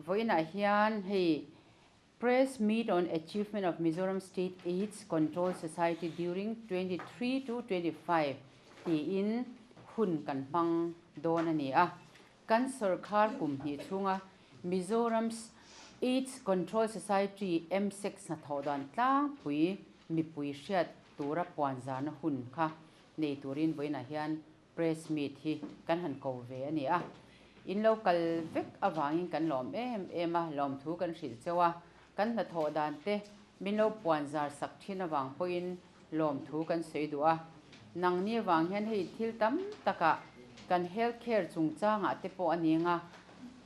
vawiinah hian hei Press Meet on Achievement of Mizoram State Aids Control Society during twenty three to twenty five tiin hun kan hmang dawn a ni a. Kan sawrkar kum hnih chhunga Mizorams Aids Control Society, MSAC, hnathawh dan tlangpui mipui hriat tura puanzarna hun kha nei turin vawiinah hian press meet hi kan han ko ve a ni a. In lo kal vek avangin kan lawm em em a, lawmthu kan hrilh cheu a, kan hnathawh dan te min lo puanzar sak thin avang pawhin Lawmthu kan sawi duh a, nang nia vang hian hei thil tam taka kan health care chungchangah te pawh a ni ang a,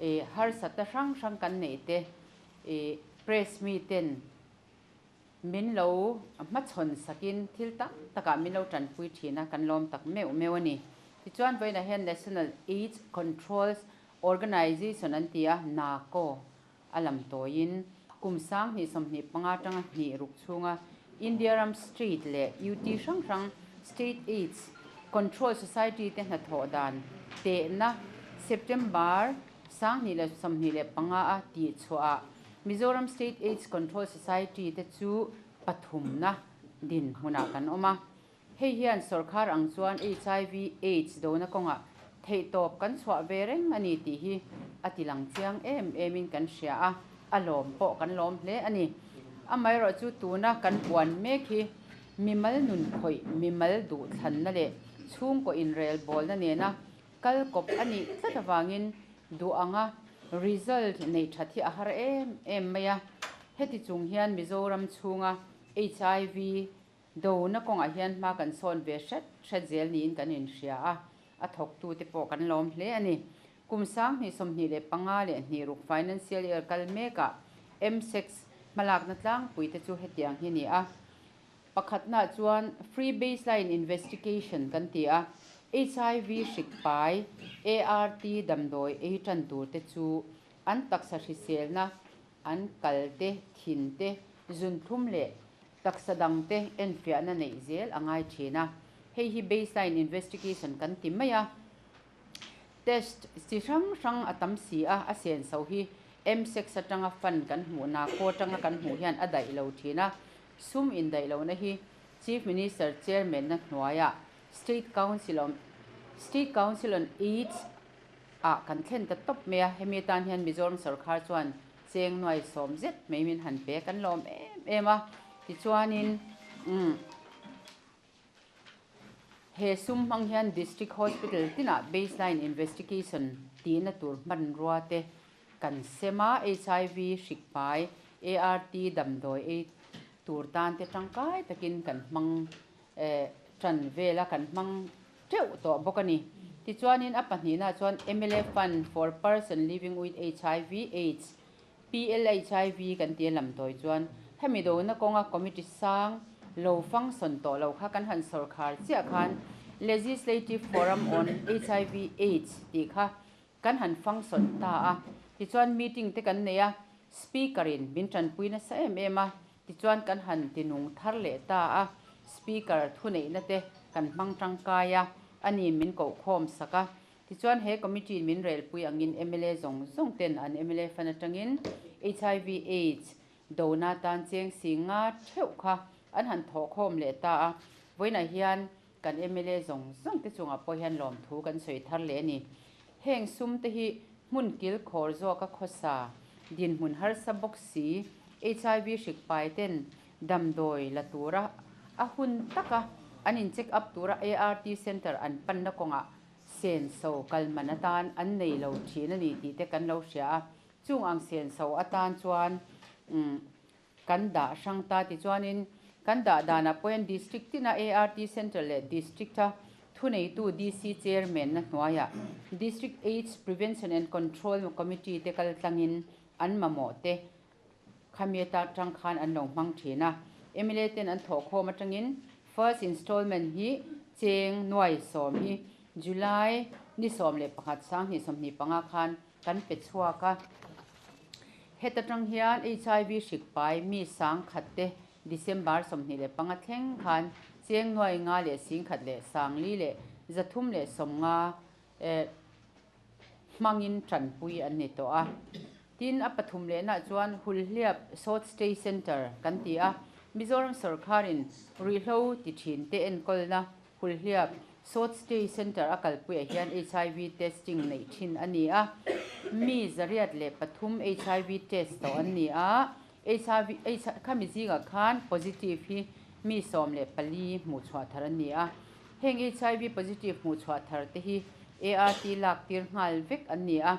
ih harsatna hrang hrang kan neih te, ih press mi ten min lo hmachhawn sak in thil tam takah min lo tanpui thin a, kan lawm tak meuh meuh a ni. Tichuan vawiinah hian National Aids Controls Organisation an ti a, NACO, a lam tawiin kum sang hnih sawmhnih panga tanga hnih ruk chhunga India ram State leh UT hrang hrang State Aids Control Society te hnathawh dan tehna September sang hnih leh sawmhnih leh panga a tih chhuahah Mizoram State Aids Control Society te chu pathumna dinhmunah kan awm a. Hei hian sawrkhar ang chuan HIV, aids dona kawngah theihtawp kan chhuah ve reng a ni tih hi a ti lang chiang em emin kan hria a, a lawm pawh kan lawm hle a ni. Amaherawh chu tuna kan buan mek hi mimal nunkhawih, mimal duh thlanna leh chhungkaw inrel bawlna nena kal kawp a nih tlat avangin duh anga result neih that hi a har em em mai a. Heti chung hian Mizoram chhunga HIV, Dona kawngah hian hma kan sawn ve hret hret zel niin kan inhria a, a thawktute pawh kan lawm hle a ni. Kum Sang hnih sawmhnih leh panga leh hnih ruk financial year kal mekah MSECS hmalakna tlangpui te chu hetiang hi ni a, Pakhatna chuan Free Baseline Investigation kan ti a, HIV hrik pai, ART damdawi ei tan tur te chu an taksa hriselna, an kalte, thinte, zunthlum leh. Taksa dangte enfiahna neih zel a ngai thin a, hei hi baseline investigation kan ti mai a. Test chi hrang hrang a tam si a, a senso hi msex atanga fund kan hmuh na khaw atanga kan hmuh hian a daih lo thin a. Sum indaih lohna hi Chief Minister Chairman-na hnuaia State Council on State Council on Aids ah kan thlen ta tawp mai a, hemi atan hian Mizoram sorkar chuan Cheng nuai sawm zet mai min han pek an lawm em em a, tichuanin umm he sum hmang hian District Hospital tinah Baseline Investigation tihna tur hmanrua te kan sem a, HIV hrik hmai, ART damdawi ei tur tan te tangkai takin kan hmang tan vel a kan hmang teuh tawh bawk a ni. Tichuanin a pahnihna ah chuan mla fund for person living with hiv, aids, PLHIV, kan ti a lam tawi chuan hemi dona kawnga committee sang lo function tawh lo kha kan han sawrkhar chiah khan legislative forum on hiv, aids tih kha Kan han function ta a, tichuan meeting te kan nei a, speaker in min tanpui nasa em em a, tichuan kan han tinung thar leh ta a, speaker thuneihna te kan hmang tangkai a, ani min kohkhawm sak a, tichuan he committee in min relpui angin mla zawng zawng ten an mla fan atangin hiv, aids dona tan cheng si nga theuh kha an han thawhkhawm leh ta a, vawiinah hian Kan mla zawng zawng te chungah pawh hian lawmthu kan sawi thar leh a ni. Heng sum te hi hmun kil khawr zawka khawsa, dinhmun harsa bawk si, HIV hrik pai ten damdawi la tura, a hun taka an in check up tura ART Centre an panna kawngah senso kalman atan an nei lo thin a ni tih te kan lo hria a, chung ang senso atan chuan umm. Kan dah hrang ta ti chuanin kan dah danah pawhin District tina ART Central leh District a thuneitu DC Chairman-na hnuaiah District Aids Prevention and Control Committee te kal tlangin an mamawh te khamiat a tang khan an lo hmang thin a. Mla ten an thawhkhawm atangin First Installment hi Cheng nuai sawm hi July ni sawm leh pakhat Sang hnih sawmhnih panga khan Kan pe chhuak a, heta tang hian HIV hrik pai mi sang khat te December sawmhnih leh panga thleng khan Chengnuai nga leh sing khat leh sangli leh za thum leh sawm nga eh hmangin tanpui an ni tawh a. Tin a pathum lehnah chuan Hulhliap Sawt Stay Centre kan ti a Mizoram sawrkharin ruihhlo ti thin te enkawlna Hulhliap South Stay Centre a kalpuiah hian hiv testing neih thin a ni a, mi zariat leh pathum hiv test tawh an ni a, khami zingah khan positive hi mi sawm leh pali hmuh chhuah thar an ni a. Heng hiv positive hmuh chhuah thar te hi ART lak tir nghal vek an ni a.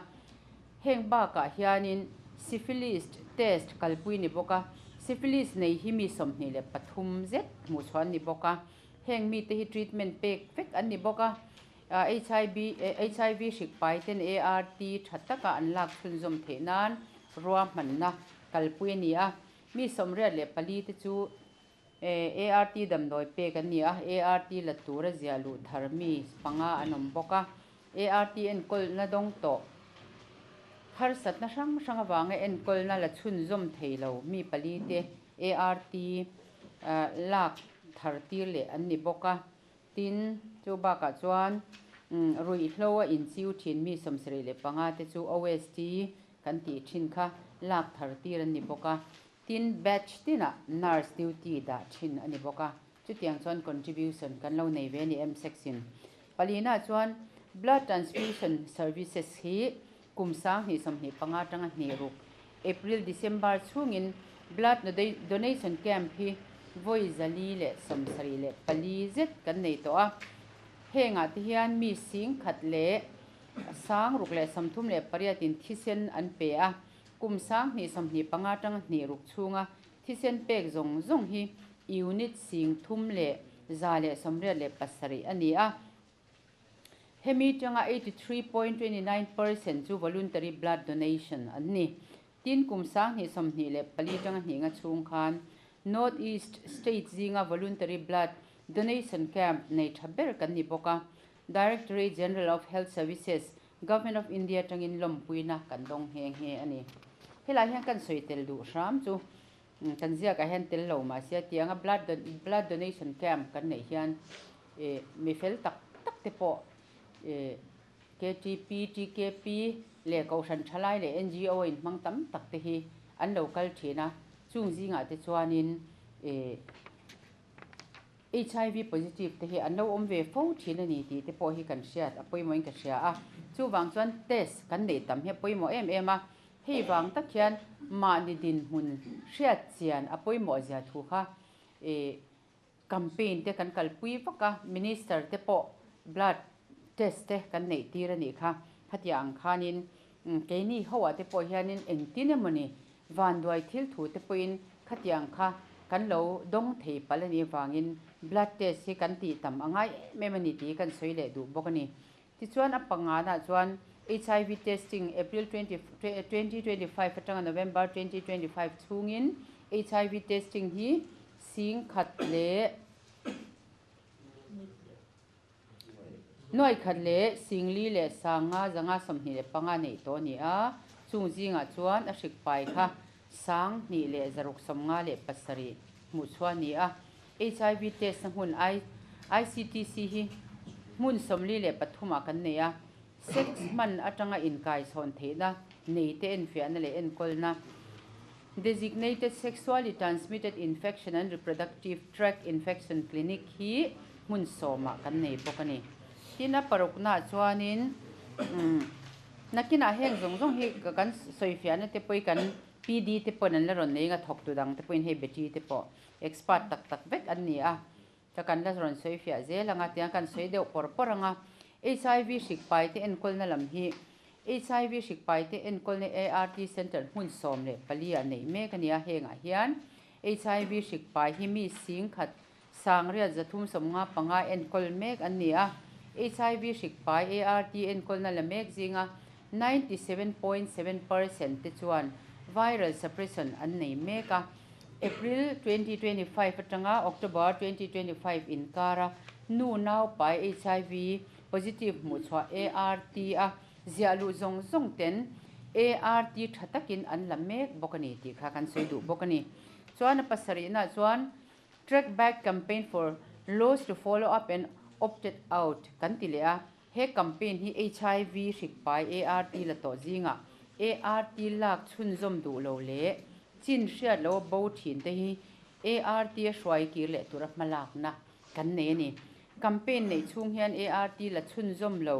Heng bakah hianin Syphilis test kalpui ni bawk a, Syphilis nei hi mi sawmhnih leh pathum zet hmuh chhuah an ni bawk a. Heng mite hi treatment pek vek an ni bawk a, HIV hrik paiten ART tha taka an lak chhunzawm theih nan rua hmanna kalpui a ni a, mi sawmriat leh pali te chu ART damdawi pek an ni a, ART la tura ziah luh thar mi panga an awm bawk a, ART enkawlna dawng tawh harsatna hrang hrang avanga enkawlna la chhunzawm theilo mi palite ART lak thar tir leh an ni bawk a, tin, chu bakah chuan ruihhlo a inchiu thin mi sawmserei leh panga te chu OST kan tih thin kha lak thar tir an ni bawk a, tin, batch tinah nurse duty dah thin a ni bawk a, chutiang chuan contribution kan lo nei ve a ni MSECS-in. Pali-na chuan blood transfusion services hi Kum Sang hnih sawmhnih panga tanga hnih ruk, April, December, chhungin Blood Donation Camp hi vawi zali leh sawm sarih leh pali zet kan nei tawh a. Heng ah te hian mi sing khat leh sang ruk leh sawmthum leh pariat in thisen an pe a. Kum Sang hnih sawmhnih panga tanga hnih ruk chhunga thisen pek zawng zawng hi unit sing thum leh za leh sawmriat leh pasarih a ni a. Hemi tanga eighty three point twenty nine percent chu voluntary blood donation an ni. Tin, kum sang hnih sawmhnih leh pali tanga hnihna chhung khan North East state zinga voluntary blood donation camp nei tha ber kan ni bawk a, Directorate General of Health Services, Government of India tangin lawmpuina kan dawng nghe nghe a ni. Helai hian kan sawi tel duh hram chu Kan ziakah hian tel lo mahse a tianga blood blood donation camp kan neih hian eh mi fel tak tak te pawh eh KTP, TKP leh Kohhran thalai leh NGO in hmang tam tak te hi an lo kal thin a, chung zingah te chuanin eh. HIV positive te hi an lo awm ve fo thin a ni tih te pawh hi kan hriat a pawimawhin ka hria a, chuvang chuan test kan neih tam hi a pawimawh em em a, hei vang tak hian mahni dinhmun hriatchian a pawimawhzia thu kha campaign te kan kalpui vak a, minister te pawh blood test te kan neih tir a nih kha, khatiang ang khanin Keini hoa te pawh hianin engtin emawni vanduai thil thu te pawhin khatiang kha kan lo dawng thei palh a nih avangin blood test hi kan tih tam a ngai em em a ni tih kan sawi leh duh bawk a ni. Tichuan a pangnganah chuan HIV testing April twenty twenty twenty five atanga November twenty twenty five chhungin HIV testing hi sing khat leh Nuaikhat leh Singli leh Sanga zanga sawmhnih leh panga neih tawh a ni a, chung zingah chuan a hrik pai kha sang hnih leh zaruk sawmnga leh pasarih hmuhchhuah a ni a. HIV test-na hmun ICTC hi hmun sawmli leh pathumah kan nei a, Sex hman atanga inkaichhawn theihna, neite enfiahna leh enkawlna, Designated Sexually Transmitted Infection and Reproductive Tract Infection Clinic hi hmun sawmah kan nei bawk a ni. Tin, a paruknaah chuanin nakinah heng zawng zawng hi kan sawifiahna te pawh hi kan PD te pawhin an la rawn nei ang a, thawktu dangte pawhin hei battery te pawh expert tak tak vek an ni a. Ka kan la rawn sawi fiah zel ang a, tiang kan sawi deuh pawr pawr ang a. HIV hrikpai te enkawlna lam hi HIV hrikpai te enkawlna ART Centre hmun sawm leh pali ah neih mek a ni a, hengah hian HIV hrikpai hi mi sing khat sang riat za thum sawm nga panga enkawl mek an ni a. HIV hrikpai ART enkawlna la mek zinga Ninety seven point seven percent te chuan viral suppression an nei mek a. April twenty twenty five atanga October twenty twenty five inkara nu naupai HIV positive hmuhchhuah ART a ziah luh zawng zawng ten ART tha takin an la mek bawk a ni tih kha kan sawi duh bawk a ni. Chuan a pasarihnaah chuan Track Back Campaign for Loss to Follow Up and Opted Out kan ti leh a. He campaign hi HIV hrikpai ART la tawh zingah ART lak chhunzawm duh lo leh chin hriat lo bo thin te hi ART a hruai kir leh tur a hmalakna kan nei a ni. Campaign neih chhung hian ART la chhunzawm lo,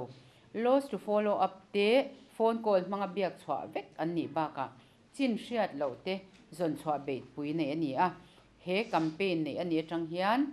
loss to follow up te phone call hmanga biak chhuah vek an nih bakah Chin hriat loh te zawn chhuah beihpui neih a ni a. He campaign neih a nih atang hian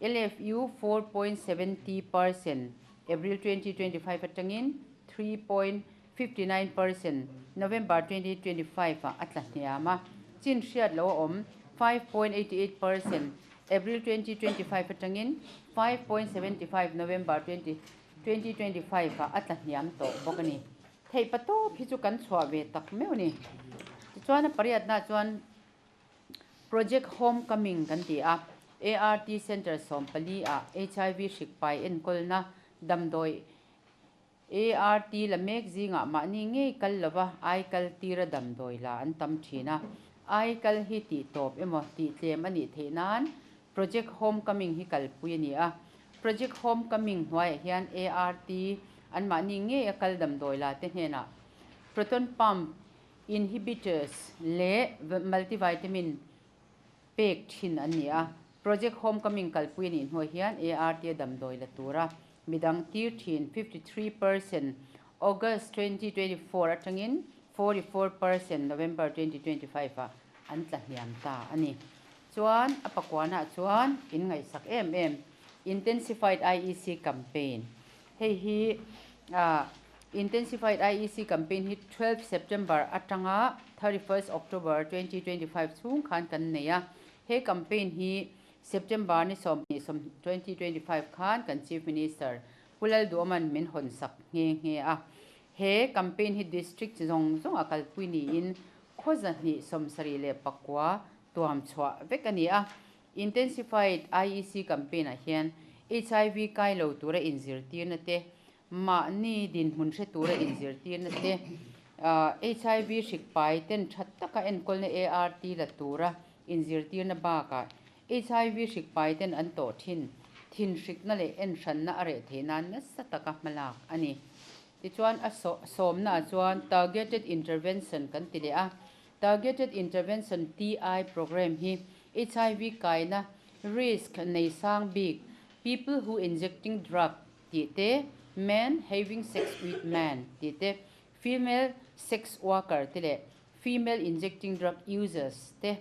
LFU four point seven zero percent April twenty twenty five atangin three point fifty nine percent November twenty twenty five ah a tla hniam a. Chin hriat loh a awm five point eighty eight percent April twenty twenty five atangin five point seventy five November twenty twenty five ah a tla hniam tawh bawk a ni. Theih pa tawp hi chu kan chhuah ve tak meuh a ni. Tichuan a pariatnaah chuan Project Home Coming kan ti a, ART Centre Sawmpali ah HIV hrikpai enkawlna damdawi ART la mek zingah mahni ngei kal lova aikal tira damdawi la an tam thin a. Aikal hi tihtawp emaw tihtlem a nih theih nan Project Homecoming hi kalpui a ni a. Project Homecoming hnuaiah hian ART an mahni ngei a kal damdawi la te hnenah proton pump inhibitors leh multivitamin pek thin an ni a. Project Homecoming kalpui a nih hnuai hian ART a damdawi la tura midang tir thin fifty three percent August twenty twenty four atangin forty four percent November twenty twenty five ah an tlahniam ta a ni. Chuan a pakuanah chuan in ngaihsak em em Intensified IEC Campaign hei hi ah Intensified IEC Campaign hi twelve September atanga thirty first October twenty twenty five chhung khan kan nei a, he campaign hi September ni sawm ni sawm twenty twenty five khan kan Chief Minister Pu Lalduaman min hawn sak nghe nghe a, he campaign hi district zawng zawng a kalpui niin khawza hnih sawmsarih leh pakua tuam chhuah vek a ni a. Intensified IEC Campaign-ah hian HIV kai lo tura inzirtirna te, mahni dinhmun hre tura inzirtirna te, HIV hrikpai ten tha taka enkawlna ART la tura inzirtirna bakah HIV hrikpai ten an tawh thin, thinhrikna leh enhranna a reh thei nan nasa taka hmalak a ni. Tichuan a sawmnaah chuan Targeted Intervention kan ti leh a, Targeted Intervention, TI, Programme hi HIV kaina risk nei sang bik, people who injecting drug tih te, men having sex with men tih te, female sex worker te leh female injecting drug users te,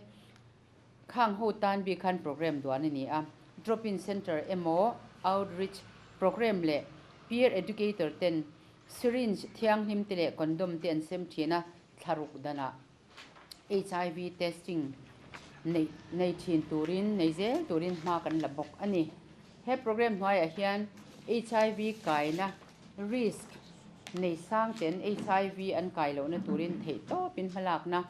Khang ho tan bik khan program duan a ni a, drop-in centre emaw, outreach program leh peer educator ten syringe, thianghlim te leh condom te an sem thin a, thlaruk danah HIV testing neih nei thin turin nei zel turin hma kan la bawk a ni. He program hnuaiah hian HIV kaina risk nei sang ten HIV an kai lohna turin theih tawpin hmalakna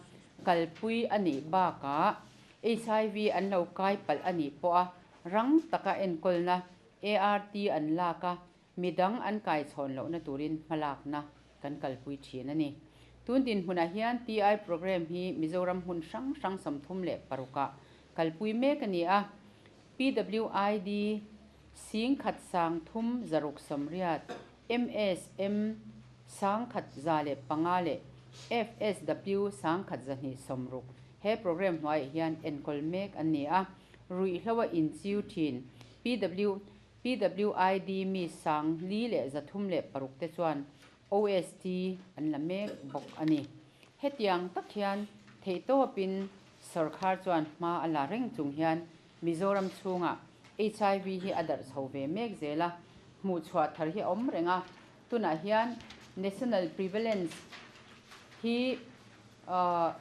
Kalpui a nih bakah HIV an lo kaipalh a nih pawh a, rang taka enkawlna ART an lak a, midang an kaichhawn lohna turin hmalakna kan kalpui thin a ni. Tun dinhmunah hian TI programme hi Mizoram hmun hrang hrang sawmthum leh parukah kalpui mek a ni a, PWID sing khat sang thum zaruk sawmriat MSM, Sangkhat za leh panga leh FSW, Sangkhat za hnih sawm ruk, he program hnuaiah hian enkawl mek an ni a, ruih hloa inchiu thin, PW, PWID mi sang li leh za thum leh paruk te chuan OST an la mek bawk a ni. Hetiang tak hian theihtawpin sawrkhar chuan hma a la reng chung hian Mizoram chhungah HIV hi a darh chho ve mek zel a, hmuh chhuah thar hi a awm reng a, tunah hian National Prevalence hi ahh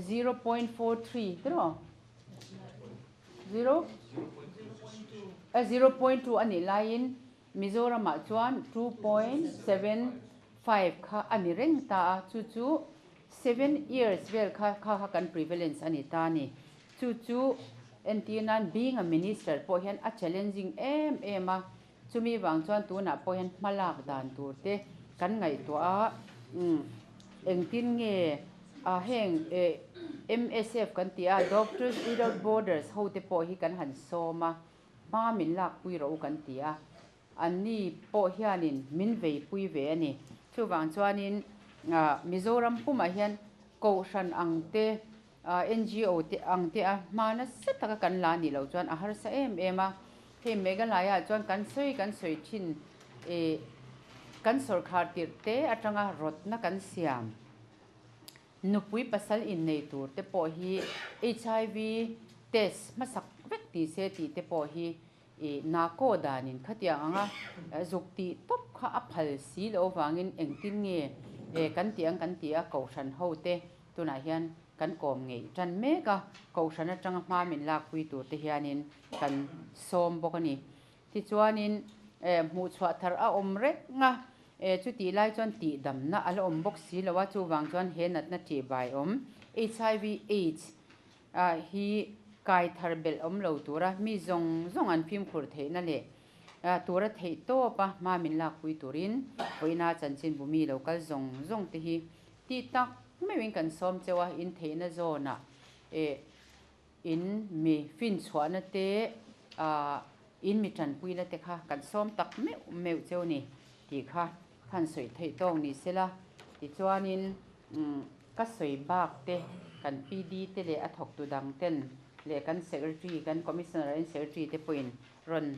zero point four three te rawh zero a zero point two a nih laiin Mizoramah chuan two point seven five kha a ni reng ta a, chu chu. Seven years vel kha kha kha kan prevalence a ni ta ni. Chu chu entir nan being a minister pawh hian a challenging em em a. Chumi vang chuan tunah pawh hian hma lak dan tur te kan ngaihtuah a. Umm engtin nge a heng eh MSF kan tih a, Doctors Without Borders ho te pawh hi kan han sawm a, hma min lakpui ro kan ti a. Anni pawh hianin min vei pui ve a ni. Chuvang chuanin Mizoram pumah hian Kohhran ang te, NGO te ang te a hma nasa taka kan la nih loh chuan a harsa em em a. Hei Meghalaya-ah chuan kan sawi kan sawi thin ih kan sawrkhar tirh te atanga rawtna kan siam nupui pasal innei tur te pawh hi HIV test hmasak vek ni se tih te pawh hi Ih nahkaw danin khatiang anga zuk tih tawp kha a phal si loh avangin engtin nge e kan tih ang kan ti a, Kohhran ho te tunah hian kan kawm ngei tan mek a, Kohhran atanga hma min lakpui tur te hianin kan sawm bawk a ni. Tichuanin e hmuh chhuah thar a awm rek a, e chutih lai chuan tihdamna a la awm bawk si lo a, chuvang chuan he natna tih vaiawm HIV, aids, ah hi kai thar belh awm lo tura mi zawng zawng an fimkhur theihna leh tura theih tawp a hma min lakpui turin Pawina chanchinbu mi lo kal zawng zawng te hi ti tak meuhin kan sawm cheu a, intheihna zawnah eh in mi finchhuahna te ah in mi tanpuina te kha kan sawm tak meuh meuh cheu ni tih kha. Khan sawi theih tawk ni sela, tichuanin ka sawi bak te, kan PD te leh a thawktu dang ten leh kan Secretary, kan Commissioner in Secretary te pawhin rawn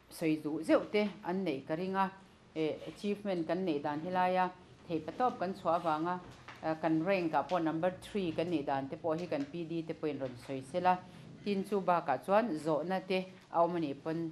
sawi duh zeuh te an neih ka ring a, achievement kan neih dan helai a, thei patawp kan chhuah avang a, kan rank ah pawh number three kan nih dan te pawh hi kan PD te pawhin rawn sawi sela, tin chu bakah chuan zawhna te a awm a nih pawn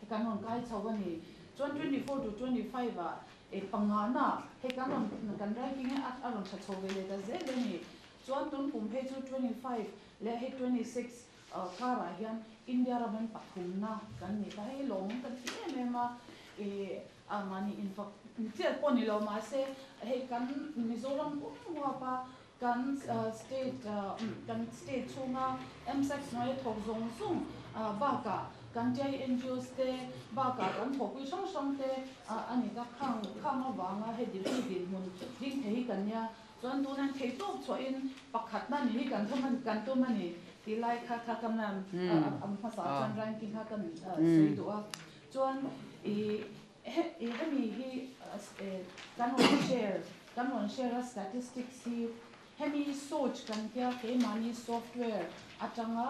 Hei kan rawn kai chho a ni. Chuan twenty four to twenty five ah e pangahna hei kan rawn kan ranking e a rawn tha chho ve leh ta zet a ni. Chuan tun kum phei chu twenty five leh hei twenty six karah hian India ram in pathumna kan ni ta. Hei lawmawm kan ti em em a. E a mahni in fak chiah pawh a ni lo mahse hei kan Mizoram pawm huapa Kan state kan state chhunga msec hnuaia thawk zawng zawng bakah kan tia-i ngos te bakah kan thawkpui hrang hrang te a ni ta khang khang avanga he degree dinhmun ding thei hi kan nia chuan tuna hian thei tawk chhuahin pakhat na nih hi kan thawm a kan tum a ni tih lai kha kha ka ma'am a hmasa chuan ranking kha ka sawi duh a chuan ih He hemi hi kan rawn share kan rawn share a statistics hi hemi search kan tia keimahni software atanga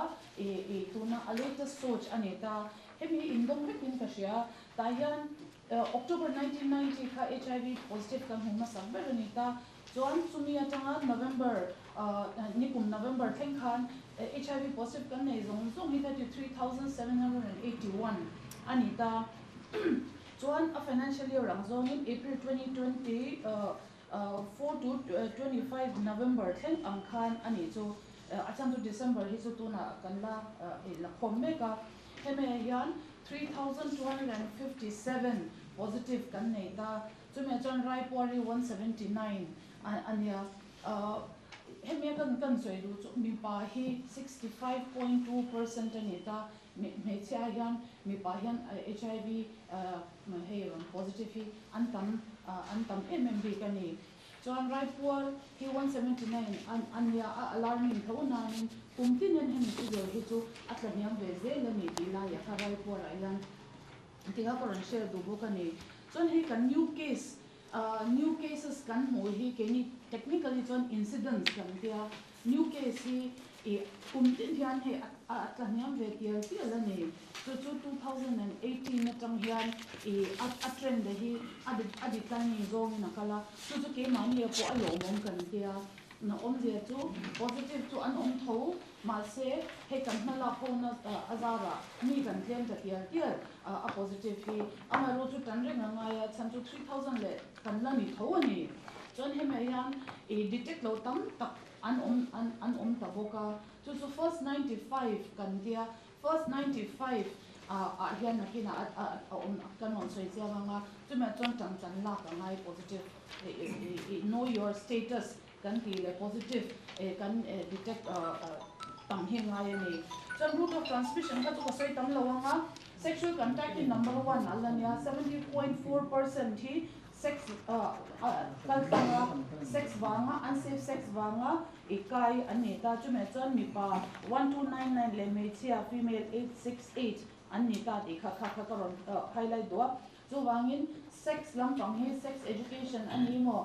tuna a latest search a ni ta hemi hi indawm hlekin ka hria tah hian October nineteen ninety kha HIV positive kan hmuh hmasa ber a ni ta Chuan chumi atanga November nikum November thleng khan hiv positive kan nei zawng zawng hi thirty three thousand seven hundred and eighty one a ni ta. Chuan a financial year ang zawngin April twenty twenty four to twenty five November thleng ang khan a nih chu a chhan chu December hi chu tunah kan la la khawm mek a. Hemi ah hian three thousand two hundred and fifty seven positive kan nei ta. Chumi chuan Raipori one seventy nine a nia. Hemi a kan kan sawi duh chu mipa hi sixty five point two percent a ni ta, hmeichhia hian mipa hian HIV hei positive hi an tam an tam em em bik a ni. Chuan Raipuar hi one seventy nine a nia a alarming tho nain kum tinin hemi thuzawi hi chu a tla hniam ve zel a ni tih lai ah kha Raipuar ah hian Tih a ka rawn share duh bawk a ni. Chuan hei kan new case, new cases, kan hmuh hi keini technically chuan incidents kan tia, new case hi i kum tih hian hei a tlahniam ve pial pial a ni. Chu chu two thousand and eighteen atang hian i a trend a hi a a declining zawngin a kal a, chu chu keimah nge pawh a lawmawm kan tia, na awmzia chu positive chu an awm tho Mahse, hei kan hma lak hona a zarah mi kan tlem ta tial tial a positive hi amaherawh chu tan reng a ngai a, chhan chu three thousand leh kan la ni tho a ni. Chuan hemah hian i detect loh tam tak an awm an awm ta bawk a, chu chu first ninety five kan tia first ninety five ah hian nakinah a awm kan rawn sawi chiang ang a, chumah chuan tangchan lak a ngai positive, know your status Kan tih leh positive eh kan eh detect tam hi ngai a ni. Chuan route of transmission kha chu ka sawi tam lo ang a, sexual contact hi number one a la nia, seventy point four percent hi sex a kal tlang a, sex vanga unsafe sex vanga i kai an ni ta, chumah chuan mipa one two nine nine leh hmeichhia female eight six eight an ni ta tih kha kha kha ka rawn highlight duh a, chuvangin sex lampang hi sex education a ni maw?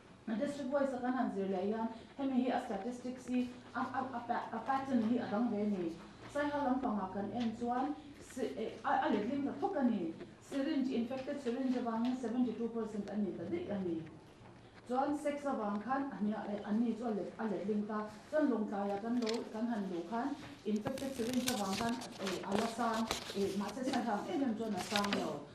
A district voice-a kan han zir leh hian hemi hi a statistics hi a pattern hi a dang ve ni. Saihal lampanga kan en chuan a let lim ta thawk a ni. Syringe, infected syringe avangin seventy two percent an ni ta daih a ni. Chuan sex avang khan an ni chu a let lim ta. Chuan lawngtlaiah kan lo kan han luh khan infected syringe avang khan a la sang, mahse saihal ang em em chuan a sang lo.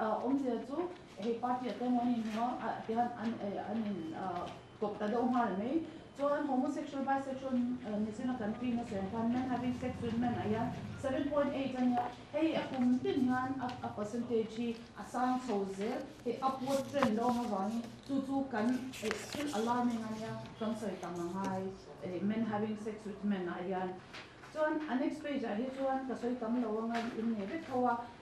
Awmzia chu hei party a tawng an in hawng a a tiang an an in kawp ta deuh nghal mai chuan homosexual bisexual nizin a kan tih nasa ang khan men having sex with men a hian seven point eight a nia hei a kum tin hian a a percentage hi a sang chho zel hei upward trend lo ang avangin chu chu kan eh still alarming a nia kan sawi ta nga ngai eh men having sex with men ah hian chuan a next page ah hi chuan ka sawi tam lo anga in nei vek tho a.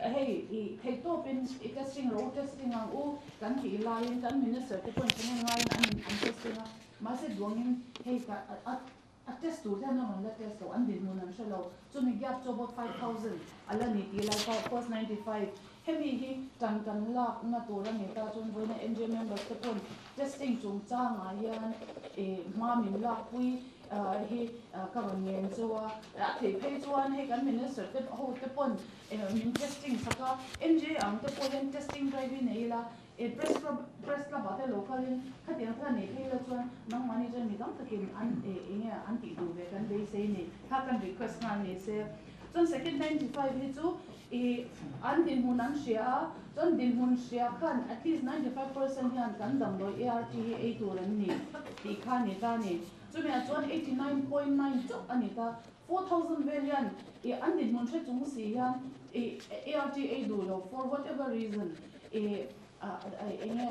Hei i theihtawpin i testing lo u, testing ang u kan tih laiin kan Minister te pawhin thahnem ngaiin an in an testing a. Mahse duangin hei ta a test tur hian a rawn la test lo, an dinhmun an hre lo. Chumi gap chu about five thousand a la ni tih lai kha, of course ninety five. Hemi hi tan kan lakna tur a ni ta chuan vawiina NGA members te pawhin testing chungchangah hian hma min lakpui, Hi ka rawn nen chu a, a theih phei chuan hei kan minister te ho te pawn min testing tak a, NGA ang te pawh hian testing drive hi nei ila press club press club ah te lokalin khatiang kha nei phei ila chuan nangmahni chuan mi tam takin an eng nge an tih duh ve kan beisei a ni kha kan request nghal ni se chuan second ninety five hi chu I an dinhmun an hria a, chuan dinhmun hria khan at least ninety five percent hian kan damdawi ART hi ei tur an ni tih kha a ni ta ni. Chumi ah chuan eighty nine point nine chauh a ni ta. Four thousand vel hian i an dinhmun hre chung si hian i ART ei duh lo for whatever reason i enge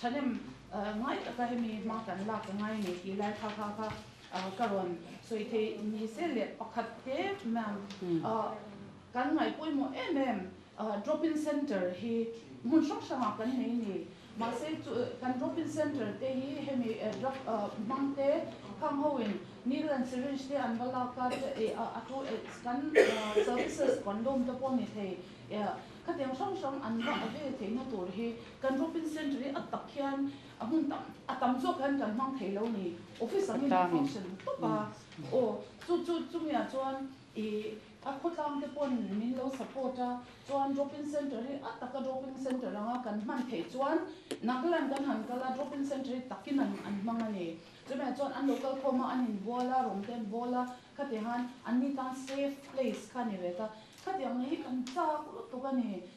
Thahnem ngai taka hemi hma kan lak ka ngai nei tih lai thakha kha ka rawn sawi thei ni se leh pakhat te mam kan ngai pawimawh em em drop in center hi hmun hrang hrang ah kan nei ni mahse chu kan drop in center te hi hemi drug hmang te phang ho in needle and syringe te an va lak a a thu kan services condom te pawh ni thei khatiang hrang hrang an va avail theihna tur hi Kan Robin Centre-i a tak hian a hmun tam a tam zawk hian kan hmang thei lo ni. Office ang in a function tawp a, aw chu chu chumi ah chuan i a khawtlang te paw'n min lo support a, chuan Robin Centre-i a tak a Robin Centre anga kan hman thei chuan Nagaland kan han kal a Robin Centre-i tak in an an hmang a ni. Chumi ah chuan an lo kal khawm a, an in bual a, rawng te an bawl a, khati han an ni tan safe place kha a ni ve ta. Khatiang lei hi kan chak lutuk a ni.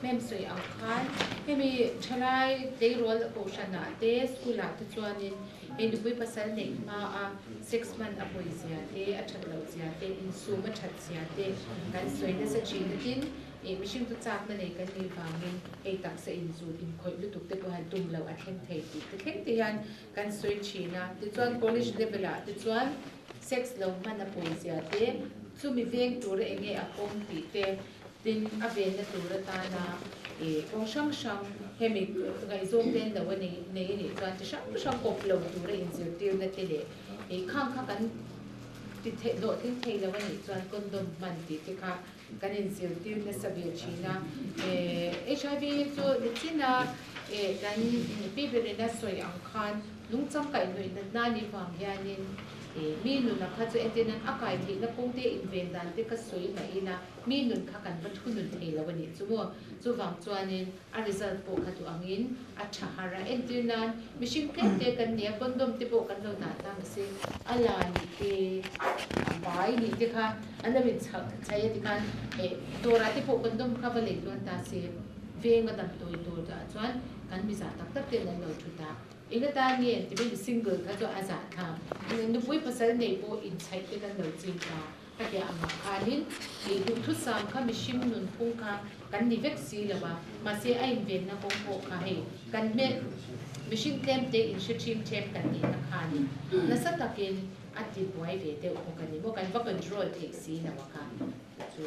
Hmem sawi ang khan hemi thalai tleirawl a kohhran ah te school ah te chuan in hei nupui pasal neih hma a sex hman a pawi zia te a that loh zia te insum a that zia te kan sawi nasa thin natin ih mihring chu chak na nei kan nih vang in hei taksa in zu in khawih lutuk te pawh han tum loh a thleng thei tih te thleng te hian kan sawi thin a ti chuan college level ah te chuan sex lo hman a pawi zia te chumi veng tur a eng nge a kawm tih te Tin, a venna tur atana ih kawng hrang hrang hemi ngaihzawng ten lo a nei nei a nih chuan chi hrang hrang kawp lo tura inzirtirna te leh ih khang kha kan ti theih hlawh tling thei lo a nih chuan condom hman tih te kha kan inzirtir nasa ve thin a. Hiv chu nichina ih kan pi berin a sawi ang khan, Lungcham kaihnuihna hna nih vang hianin mi nuna kha chu entin an a kaithlihna kawngte inveng dan te ka sawi mahin a, mi nun kha kan va thu nun thei lo a nih chu maw? Chuvang chuanin a result pawh kha duh angin a tha har a, entir nan mihring tlemte kan nia condom te pawh kan lo dah ta mase, a la nih te a bai nih te kha an lo inchhai a tikhan eh dawrah te pawh condom kha va lei tluan ta se, veng a dam tawi tur ah chuan kan mizah tak tak ten an lo thu ta. I la tan nge? Ti ben single kha chu a zah tha. Nupui pasal nei pawh inchhaih te kan lo chim ta. Ka hliah angah khanin i duhthusam kha mihring nunphung kha kan ni vek si lo a, mahse a invenna kawng pawh kha hei kan hmel mihring tlemte in hre chim ṭhep kan nihna khanin nasa takin a tibuai ve deuh bawk a ni maw? Kan va control theih si lo a kha chu.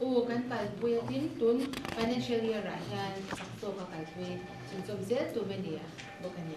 U kan kalpui a tin tun financial year ah hian sak tawka kalpui chhun chawm zel tur mai ni a bawk a ni.